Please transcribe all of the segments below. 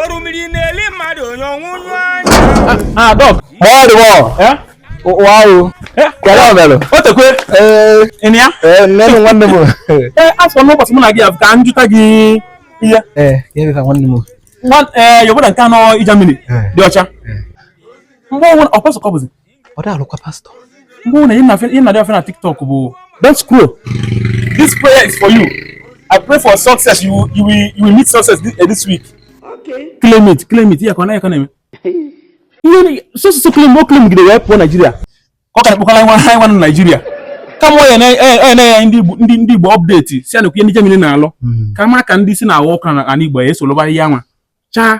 oru mmiri na-eli mmadụ onye ọnwụ nyụ anya Ah, Doc, ma ọ dị mọ. Wow. Kee ka ị melụ. O tekwe. Ee. Ị nọ ya? Ee, nne m nwanne m. Ee, afọ n'ụbọchị mụ na gị abụ ka m jụta gị ihe. Ee, ka ebe ka nwanne m. Nwa ee, yobodo nke a nọ Germany dị ọcha. Mgbe ọnwụ ọkwa sọkọ bụzi. ọ dịghị alụkwa pastọ mgbe ọbụna ị na-adị ofe na tiktok bụ don't scroll this prayer is for you i pray for success you, you, will, you will meet success this, uh, this week okay. claim it claim it ya ka ọ na-aka na-eme ihe sọsọsọ claim o claim gide wee pụọ naijiria ọ ka na-ekpokọla nwa ha nwa na naijiria kama onye na-enye ya ndị igbo update si ya na kwunye ndị Germany na-alụ hmm. kama ka ndị si na-awa ọkụ na igbo ya esoloba ihe a nwa chaa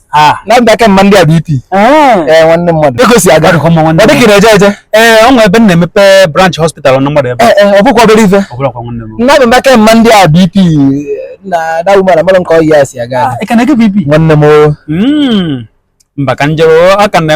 Ah. na mba aka mma ndị a BP e ah. eh, nwanne mmadụ ego si aga ọ dịka na-eje eje ee eh, ọ nwe ebe m na-emepe branch hospital na mgbada ebe eh, ọ bụkwa obere ife na mba aka mma ndị a BP na dawuma na mmadụ nke ọyị ya si aga ah, e nwanne m hmm. mba ka njere aka na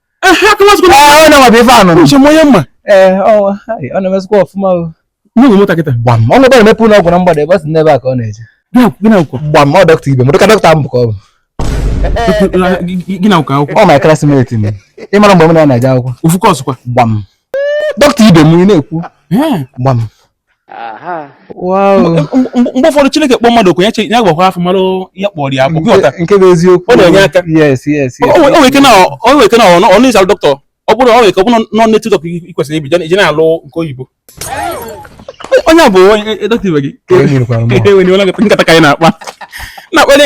ọ na-enwe bụ ife anụ uche m onye ọma ee ọ na-emezikwa ọfụma o nwego moto kịta gbam o nwe ebe ọ na-emepe ụlọ ọgwụ na mgbada ebe o si n'ebe a ka ọ na-eje gị na ụkwa gbam ọ dọkịta ibe m dịka dọkịta m bụ ka ọ bụ gị na ya gụkọ akwụkwọ ọ my classmate m ị mara mgbe m na-eje akwụkwọ ofu course kwa gbam dọkịta ibe m ị na-ekwu gbam mgbe ụfọdụ chineke kpọọ mmadụ oku ya che ya gbakwa afa mara ihe a kpọrọ ya akpọ ghọta nke bụ eziokwu ọ na-enye aka o nwere ike na ọnụ ị zalụ dọkịta ọ bụrụ ọ nwere ike ọ bụrụ na ọ native doctor ka i kwesịrị ịbụ i je na-alụ nke oyibo onye bụ onye dọkịta ibe gị nkata ka anyị na-akpa na-akpali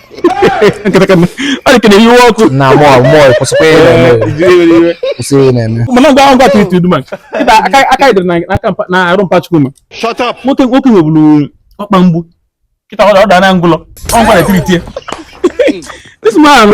na mọl mọl kwụsịkwa ihe na-eme kwụsị ihe na-eme mana ngịwa ngịwa triitiri the man kịta aka aka i dere na aka mpa- na arụ mpa chukwuma Shut up! nwoke nwoke nwebulu ọkpa mgbu kịta ọ da- ọ da na ngwụlọ ọ ngịwa na-etriiti this man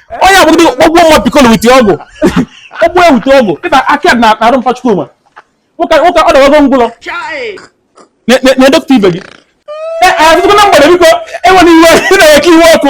onye abụgide ọgwụ ọma pikolo wite ọgwụ ọgwụ ewute ọgwụ dịka aka na arụ mpa chukwuma nwoke ọ dawago ngwụlọ na dọkịta ibe gị azụkwa na mgbede biko ewela iwe ị na-eweka iwe ọkụ